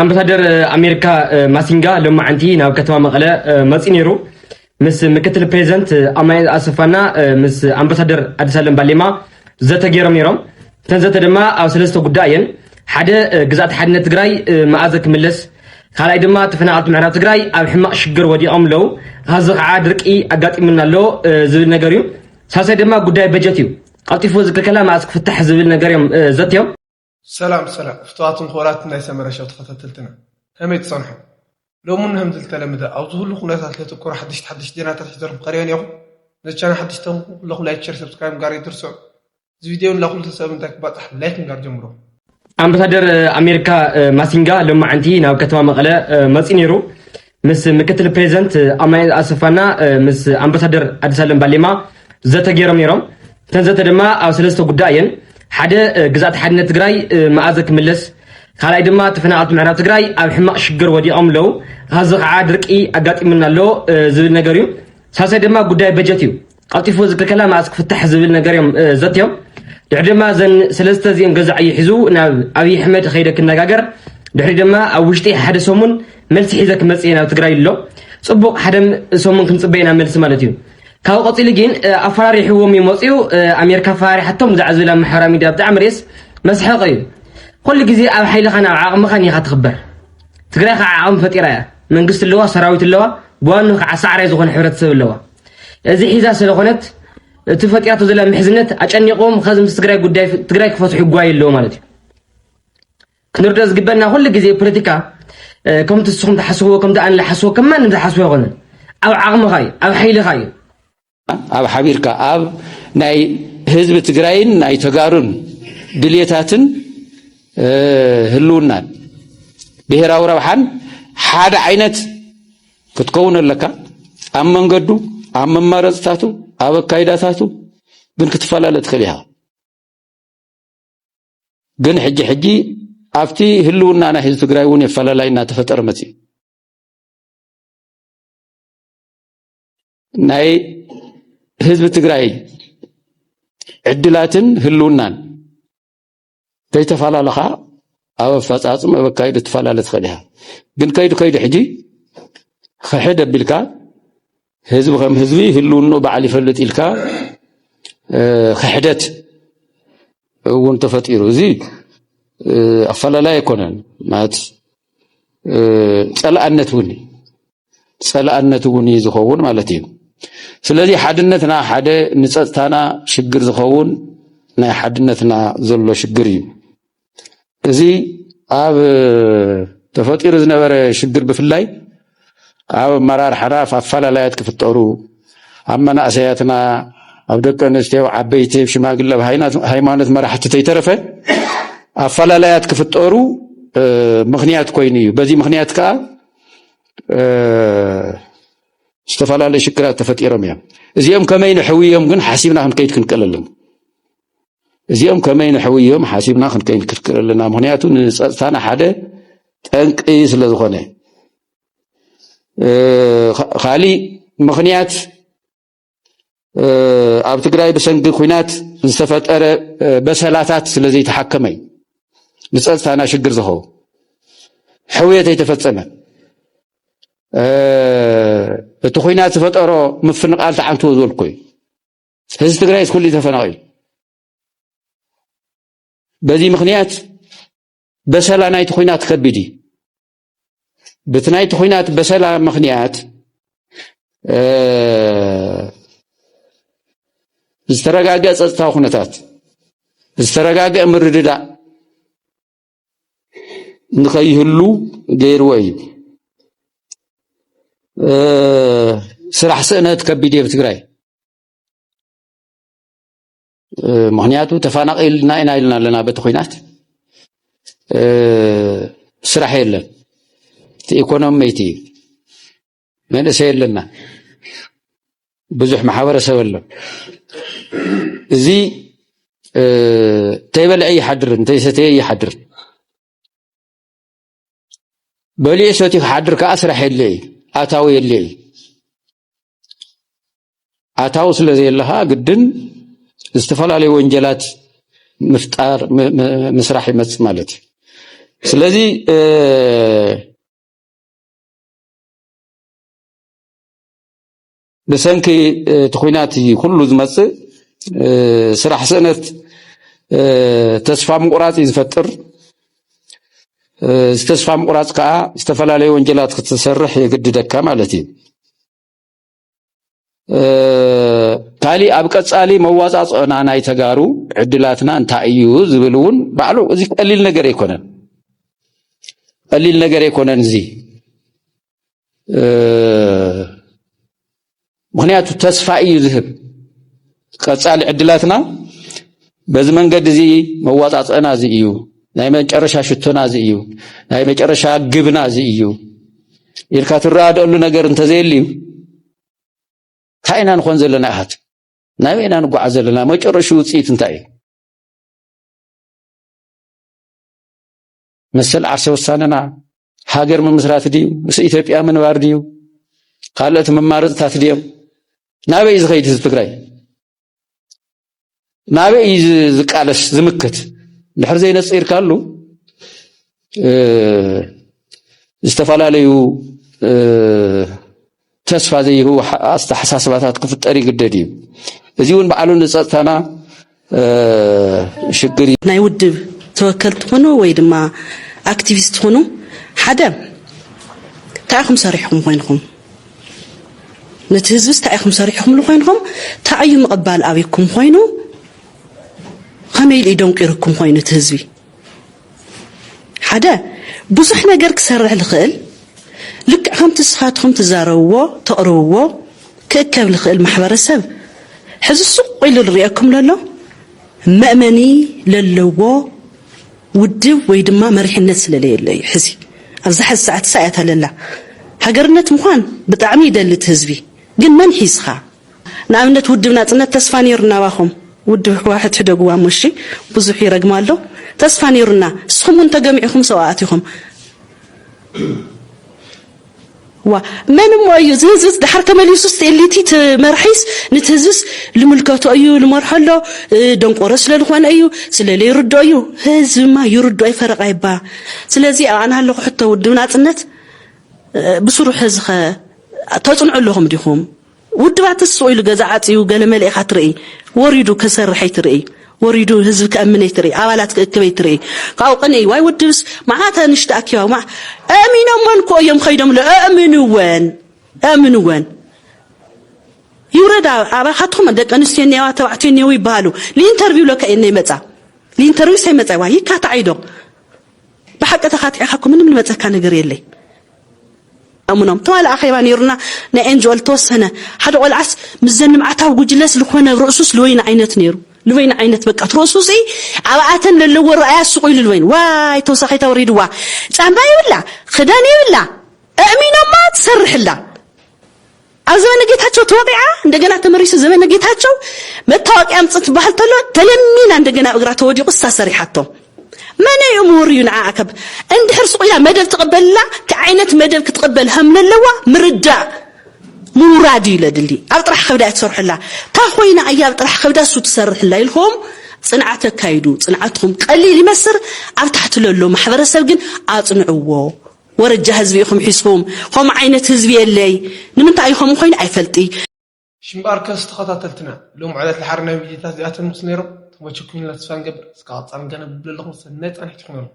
ኣምባሳደር ኣሜሪካ ማሲንጋ ሎማዓንቲ ናብ ከተማ መቐለ መፂኡ ነይሩ ምስ ምክትል ፕሬዚደንት ኣማኒኤል ኣሰፋና ምስ ኣምባሳደር ኣዲስ ኣለም ባሌማ ዘተ ገይሮም ነይሮም እተን ዘተ ድማ ኣብ ሰለስተ ጉዳይ እየን ሓደ ግዛእቲ ሓድነት ትግራይ መኣዘ ክምለስ ካልኣይ ድማ ተፈናቐልቲ ምዕራብ ትግራይ ኣብ ሕማቕ ሽግር ወዲቖም ኣለዉ ካብዚ ከዓ ድርቂ ኣጋጢሙና ኣሎ ዝብል ነገር እዩ ሳልሳይ ድማ ጉዳይ በጀት እዩ ቀልጢፉ ዝክልከላ መኣስ ክፍታሕ ዝብል ነገር እዮም ዘትዮም ሰላም ሰላም ፍትዋትን ክቡራትን ናይ ሰመረ ሸው ተኸታተልትና ከመይ ትጸንሑ ሎሚ ን ከምዚ ልተለምደ ኣብ ዝሁሉ ኩነታት ለትኩሩ ሓደሽቲ ሓደሽቲ ዜናታት ሒዘልኩም ቀሪበ ኔኹ ነዚ ቻናል ሓደሽቲ ተንኩ ኩለኹም ላይክ ሸር ሰብስክራይብ ምጋር ኣይትርስዑ እዚ ቪድዮ ንላ ኩሉ ሰብ እንታይ ክባጻሕ ላይክ ምጋር ጀምሮ ኣምባሳደር ኣሜሪካ ማሲንጋ ሎማዓንቲ ናብ ከተማ መቐለ መፂ ነይሩ ምስ ምክትል ፕሬዚደንት ኣማኒኤል ኣሰፋና ምስ ኣምባሳደር ኣዲሳለም ባሌማ ዘተ ገይሮም ነይሮም። እተን ዘተ ድማ ኣብ ሰለስተ ጉዳይ እየን። ሓደ ግዛእቲ ሓድነት ትግራይ መኣዘ ክምለስ፣ ካልኣይ ድማ ተፈናቐልቲ ምዕራብ ትግራይ ኣብ ሕማቕ ሽግር ወዲቖም ኣለዉ፣ ኻዚ ከዓ ድርቂ ኣጋጢሙና ኣሎ ዝብል ነገር እዩ። ሳልሳይ ድማ ጉዳይ በጀት እዩ። ቀልጢፉ እዚ ክልከላ መኣስ ክፍታሕ ዝብል ነገር እዮም ዘትዮም ድሕሪ ድማ እዘን ሰለስተ እዚኦም ገዛ ዕዮ ሒዙ ናብ ኣብዪ ኣሕመድ ከይደ ክነጋገር ድሕሪ ድማ ኣብ ውሽጢ ሓደ ሰሙን መልሲ ሒዘ ክመፅእ እየ ናብ ትግራይ ኣሎ ፅቡቕ ሓደ ሰሙን ክንፅበየ ናብ መልሲ ማለት እዩ ካብኡ ቀፂሉ ግን ኣፈራሪሕዎም እዩ መፅኡ ኣሜሪካ ኣፈራሪሓቶም ብዛዕባ ዝብል ኣብ ማሕበራዊ ሚድያ ብጣዕሚ ርእስ መስሐቂ እዩ ኩሉ ግዜ ኣብ ሓይልኻን ኣብ ዓቕምኻን ኢኻ ትኽበር ትግራይ ከዓ ዓቕሚ ፈጢራ እያ መንግስቲ ኣለዋ ሰራዊት ኣለዋ ብዋኑ ከዓ ሳዕራይ ዝኾነ ሕብረተሰብ ኣለዋ እዚ ሒዛ ስለኾነት እቲ ፈጢራቶ ዘላ ምሕዝነት ኣጨኒቆም ከዚ ምስ ትግራይ ጉዳይ ትግራይ ክፈትሑ ይጓዩ ኣለዎ ማለት እዩ ክንርዶ ዝግበና ኩሉ ግዜ ፖለቲካ ከምቲ ንስኹም ትሓስብዎ ከምቲ ኣነ ዝሓስቦ ከም ማንም ዝሓስቦ ኣይኮነን ኣብ ዓቕምኻ እዩ ኣብ ሓይልኻ እዩ ኣብ ሓቢርካ ኣብ ናይ ህዝቢ ትግራይን ናይ ተጋሩን ድሌታትን ህልውናን ብሄራዊ ረብሓን ሓደ ዓይነት ክትከውን ኣለካ ኣብ መንገዱ ኣብ መማረፅታቱ ኣብ ኣካይዳታቱ ግን ክትፈላለ ትኽእል ኢኻ ግን ሕጂ ሕጂ ኣብቲ ህልውና ናይ ህዝቢ ትግራይ እውን የፈላላይ እናተፈጠረ መፅእ ናይ ህዝቢ ትግራይ ዕድላትን ህልውናን ተይተፈላለኻ ኣብ ኣፈፃፅም ኣብ ኣካይዱ ትፈላለ ትኽእል ኢኻ ግን ከይዱ ከይዱ ሕጂ ክሕድ ኣቢልካ ህዝቢ ከም ህዝቢ ህልውኑ በዓል ይፈልጥ ኢልካ ክሕደት እውን ተፈጢሩ እዚ ኣፈላላይ ኣይኮነን ማለት ፀላእነት እውን ጸላእነት እውን እዩ ዝኸውን ማለት እዩ። ስለዚ ሓድነትና ሓደ ንጸጥታና ሽግር ዝኸውን ናይ ሓድነትና ዘሎ ሽግር እዩ። እዚ ኣብ ተፈጢሩ ዝነበረ ሽግር ብፍላይ ኣብ ኣመራርሓና ኣፈላላያት ክፍጠሩ ኣብ መናእሰያትና ኣብ ደቂ ኣንስትዮ ኣብ ዓበይቲ ኣብ ሽማግለ ኣብ ሃይማኖት መራሕቲ ተይተረፈ ኣፈላላያት ክፍጠሩ ምክንያት ኮይኑ እዩ። በዚ ምክንያት ከዓ ዝተፈላለዩ ሽግራት ተፈጢሮም እዮም እዚኦም ከመይ ንሕውዮም ግን ሓሲብና ክንከይድ ክንክእል ኣለና እዚኦም ከመይ ንሕውዮም ሓሲብና ክንከይድ ክንክእል ኣለና ምክንያቱ ንፀጥታና ሓደ ጠንቂ ስለ ዝኾነ ካሊእ ምክንያት ኣብ ትግራይ ብሰንኪ ኩናት ዝተፈጠረ በሰላታት ስለ ዘይተሓከመ እዩ ንፀፅታና ሽግር ዝኸውን ሕውየት ኣይተፈፀመ እቲ ኩናት ዝፈጠሮ ምፍንቓል ተዓንትዎ ዝበልኩ እዩ ህዝቢ ትግራይ ስኩሉ ተፈናቒሉ በዚ ምክንያት በሰላ ናይቲ ኩናት ከቢድ እዩ ብቲ ናይቲ ኩናት በሰላ ምክንያት ዝተረጋገ ፀጥታዊ ኩነታት ዝተረጋገ ምርድዳእ ንኸይህሉ ገይርዎ እዩ ስራሕ ስእነት ከቢድ እየ ትግራይ ምክንያቱ ተፋናቂልና ኢና ኢልና ኣለና በቲ ኩናት ስራሕ የለን እቲ ኢኮኖሚይቲ እዩ መንእሰይ ኣለና ብዙሕ ማሕበረሰብ ኣሎ እዚ ተይበልዐ ይሓድር እንተይሰተየ ይሓድር በሊዑ ሰትዩ ክሓድር ከዓ ስራሕ የለ እዩ ኣታዊ የለ እዩ ኣታዊ ስለ ዘየለ ከዓ ግድን ዝተፈላለዩ ወንጀላት ምፍጣር ምስራሕ ይመፅእ ማለት እዩ ስለዚ ብሰንኪ እቲ ኩናት ኩሉ ዝመፅእ ስራሕ ስእነት ተስፋ ምቁራፅ እዩ ዝፈጥር እዚ ተስፋ ምቁራፅ ከዓ ዝተፈላለዩ ወንጀላት ክትሰርሕ የግድደካ ማለት እዩ ካሊእ ኣብ ቀፃሊ መዋፃፅኦና ናይ ተጋሩ ዕድላትና እንታይ እዩ ዝብል እውን ባዕሉ እዚ ቀሊል ነገር ኣይኮነን ቀሊል ነገር ኣይኮነን እዚ ምክንያቱ ተስፋ እዩ ዝህብ ቀፃሊ ዕድላትና በዚ መንገዲ እዚ መዋፃፅዕና እዚ እዩ ናይ መጨረሻ ሽቶና እዚ እዩ ናይ መጨረሻ ግብና እዚ እዩ ኢልካ ትረዳደኣሉ ነገር እንተዘየልዩ እንታይ ኢና ንኾን ዘለና ኣሃት ናበይ ኢና ንጓዓዝ ዘለና መጨረሹ ውፅኢት እንታይ እዩ መሰል ዓርሰ ውሳነና ሃገር ምምስራት ድዩ ምስ ኢትዮጵያ ምንባር ድዩ ካልኦት መማረፅታት ድዮም ናበይ እዩ ዝኸይድ ህዝቢ ትግራይ ናበይ እዩ ዝቃለስ ዝምክት ድሕር ዘይነፂርካሉ ዝተፈላለዩ ተስፋ ዘይህቡ ኣተሓሳስባታት ክፍጠር ይግደድ እዩ። እዚ እውን ባዕሉ ንፀጥታና ሽግር እዩ። ናይ ውድብ ተወከልቲ ኹኑ ወይ ድማ ኣክቲቪስት ኹኑ ሓደ እንታይ ኢኹም ሰሪሕኹም ኮይንኹም ነቲ ህዝብስ እንታይ ኢኹም ሰሪሕኹምሉ ኮይንኹም እንታይ እዩ ምቕባል ኣብኩም ኮይኑ ከመይ ኢሉ እዩ ደንቂርኩም ኮይኑ እቲ ህዝቢ ሓደ ብዙሕ ነገር ክሰርሕ ልኽእል ልክዕ ከምቲ እስኻትኹም ትዛረብዎ ተቕርብዎ ክእከብ ልኽእል ማሕበረሰብ ሕዚ ሱቕ ኢሉ ልርኤኩም ለሎ መእመኒ ለለዎ ውድብ ወይ ድማ መሪሕነት ስለለየሎ እዩ ሕዚ ኣብዛ ሕዚ ሰዓት እሳ እያ ተለላ ሃገርነት ምዃን ብጣዕሚ ይደሊ እቲ ህዝቢ ግን መን ሒዝኻ ንኣብነት ውድብ ናጽነት ተስፋ ኔሩና ኣባኹም ውድብ ህዋሕት ሕደግዋ እሞ እሺ ብዙሕ ይረግማ ኣሎ ተስፋ ኔሩና እስኹም ውን ተገሚዕኹም ሰውኣት ኢኹም ዋ መን እሞ እዩ እዚ ህዝብስ ድሓር ተመሊሱስ ጤሊቲ እቲ መርሒስ ንቲ ህዝብስ ልምልከቶ እዩ ልመርሖ ኣሎ ደንቆሮ ስለ ዝኾነ እዩ ስለ ለይርዶ እዩ ህዝብማ ይርዶ ኣይ ፈረቃ ይባ ስለዚ ኣና ኣለኹ ሕቶ ውድብ ናጽነት ብስሩሕ ህዝኸ ተጽንዑ ኣለኹም ዲኹም ውድባትስ ስቕ ኢሉ ገዛ ዓጽዩ ገለ መሊእኻ ትርኢ፣ ወሪዱ ከሰርሕ ኣይትርኢ፣ ወሪዱ ህዝቢ ከእምን ኣይትርኢ፣ ኣባላት ክእክብ ኣይትርኢ፣ ካብኡ ቅንኢ ዋይ ውድብስ መዓት ኣንሽቲ ኣኪባ እሞ ኣእሚኖመን እኮ እዮም ከይዶምለ ኣእምንወን ኣእምንወን ይውረዳ ኣባኻትኹም ደቂ ኣንስትዮ እኒኣዋ ተባዕትዮ እኒአው ይበሃሉ ንኢንተርቪው ለካ እየን ነይመጻ ንኢንተርቪው ሰይመጻ ይዋ ይካታዕ ኢዶ ብሓቂ ተካቲዕካ እኮ ምንም ልመጸካ ነገር የለይ ኣሙኖም ተዋለ ኣኼባ ነይሩና ናይ ኤንጅኦል ተወሰነ ሓደ ቆልዓስ ምስዘን ልምዓታዊ ጉጅለስ ልኮነ ርእሱስ ልወይኒ ዓይነት ነይሩ ልበይኒ ዓይነት በቃ ትርእሱ ሲ ኣብኣተን ለለዎ ረኣያ ስቑ ኢሉ ልበይኒ ዋይ ተወሳኺ ተወሪድዋ ጫማ ይብላ ክዳን ይብላ እእሚኖማ ትሰርሕላ ኣብ ዘመነ ጌታቸው ተወቂዓ እንደገና ተመሪሱ ዘመነ ጌታቸው መታወቂያ ኣምፅ ትበሃል ተሎ ተለሚና እንደገና ኣብ እግራ ተወዲቁ እሳ ሰሪሓቶ መነ እዩ ምውርዩ ንዓኣ ከብ እንድሕር ስቁኢላ መደብ ትቕበልላ ክዓይነት መደብ ክትቕበል ከምለለዋ ምርዳእ ምውራድ እዩ ለድሊ ኣብ ጥራሕ ከብዳ ትሰርሑላ እታ ኮይና እያ ኣብ ጥራሕ ከብዳ እሱ ትሰርሕላ ኢልኩም ፅንዓት ኣካይዱ ፅንዓትኹም ቀሊል ይመስር ኣብ ታሕቲ ለሎ ማሕበረሰብ ግን ኣፅንዕዎ ወረጃ ህዝቢ ኢኹም ሒዝኩም ኸምኡ ዓይነት ህዝቢ የለይ ንምንታይ እዩ ኸምኡ ኾይኑ ኣይፈልጢ። ሽምባርከስ ተኸታተልትና ሎም ዕለት ድሓር ናይ ቪድዮታት እዚኣተን ምስ ነይሮም ተመችኩምልና ተስፋ ንገብር እስከ ቀጻሊ ገለ ብብለለኹም ሰናይ ጻንሒት ይኹነልኩም።